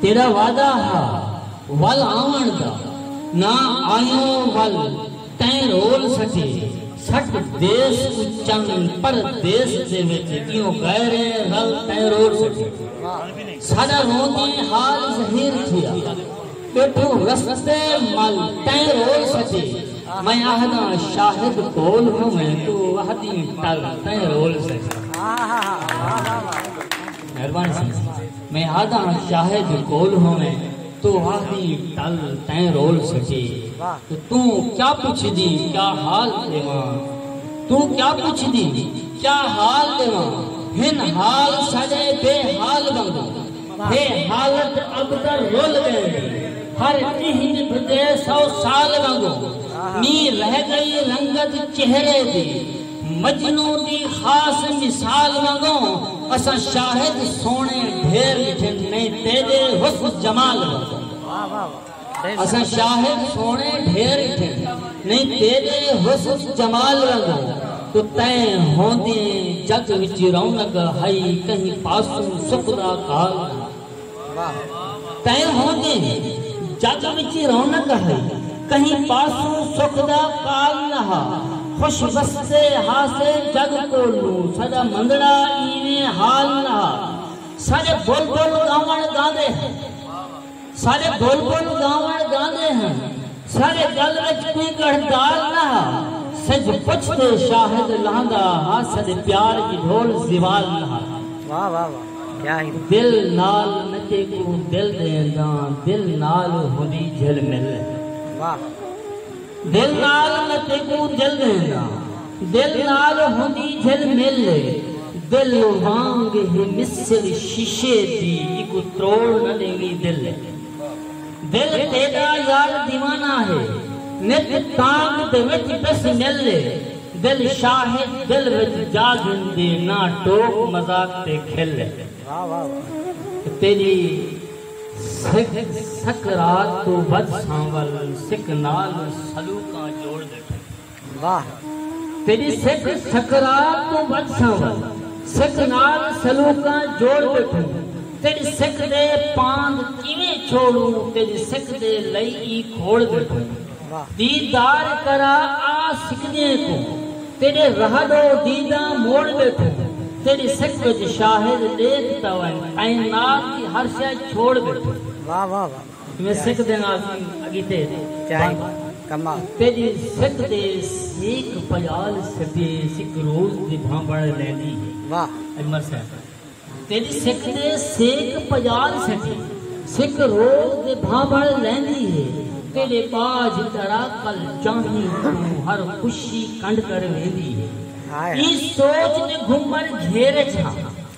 تیݙا وعدہ ہا ول آوݨ دا نہ آئیوں ول تیں رول سٹے سٹ دیس اچن پر دیس دے وچ کیوں غیرے رل تیں رول سٹے ساڈا روندیں حال ظہیر تھیا بیٹھو رستے مل تیں رول سٹے میں آہداں شاہد کول ہویں تو وحدی تل تیں رول سٹے مہربانی سئیں میں آہداں شاہد کول ہوویں تو آہدی ٹل تیں رول سٹی تے توں کیا پچھدی کیا حال ݙیواں توں کیا پچھدی کیا حال ݙیواں ہن حال ساݙے بے حال وانگوں ہے حالت ابتر رل ڳئے دی ہر ݙینہہ ٻھدے سو سال وانگوں نی رہ ڳئی رنگت چہرے دی۔ مجنوں دی خاص مثال وانگوں اساں شاہد سوہݨے ڈھیر ݙٹھے میں تیݙے حسن جمال وانگوں اساں شاہد سوہݨے ڈھیر ݙٹھے میں تیݙے حسن جمال وانگوں تو تیں ہوندیں جگ وچ رونق ہئی کہیں پاسوں سکھ دا کال تئیں ہوندے جڳ وچ رونق ہئی کہیں پاسوں سکھ دا کال نہ ہا خوش وسدے ہاسے جڳ کول نوں ساݙا مندڑا ایویں حال نہ ہا ساݙے بلبل ڳاوݨ ڳاندے ہن ساݙے بلبل ڳاوݨ ڳاندے ہن ساݙے ڳل وچ کوئی ڳڑھ دال نہ ہا سجھ پچھ تے شاہد لہندا ہا ساݙے پیار دی ڈھول زوال نہ ہا دل نال نچے کوں دل ݙین داں دل نال ہوندی جھل مل دل نال نچے کوں دل ݙین داں دل نال ہوندی جھل مل دل وانگ ہی مثل شیشے دی اکو تروڑ نہ ݙیویں دل دل تیڈا یار دیوانہ ہے نت تانگ دے وچ بس مل اے دل شاہد دل وچ جا گھندے نہ ٹوک مذاق تے کھل اے تیڈی سک سکرات توں ودھ سانول سک نال سلوکاں جوڑ ڈٹھے۔ واہ تیݙی سک سکرات توں ودھساں ول سک نال سلوکاں جوڑ ٻیٹھوں تیݙی سک دے پاند کیویں چھوڑوں تیݙی سک دے لئی ای کھوڑ ٻیٹھوں دیدار کرا آ سکدیں کوں تیݙے راہ ݙو دیداں موڑ ٻیٹھوں تیݙی سک وچ شاہد ݙیکھ تاوائیں کائنات دی ہر شئے چھوڑ ٻیٹھوں میں سکھ دے نال اگیتے چائی کما تیڈی سکھ دے سیکھ پیال سدے سکھ روز دی بھانبڑ لیندی ہے واہ اجمل صاحب تیڈی سکھ دے سیکھ پیال سدے سکھ روز دی بھانبڑ لیندی ہے تیڈے باج ترا کل چاہیں توں ہر خوشی کنڈ کر ویندی ہے ایں سوچ دے گھمر گھیر اچ ہاں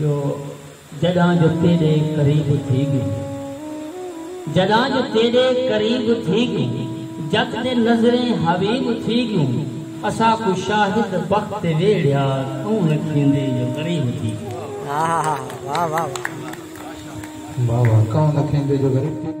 جو جڈاں جو تیڈے قریب تھی گی جڈاں جو تیڈے قریب تھی گی جت دے نظریں حبیب تھی گی اسا کو شاہد بخت تے ویڑیا تو لکھیندے جو غریب تھی گی واہ واہ واہ واہ کون لکھیندے جو غریب تھی گی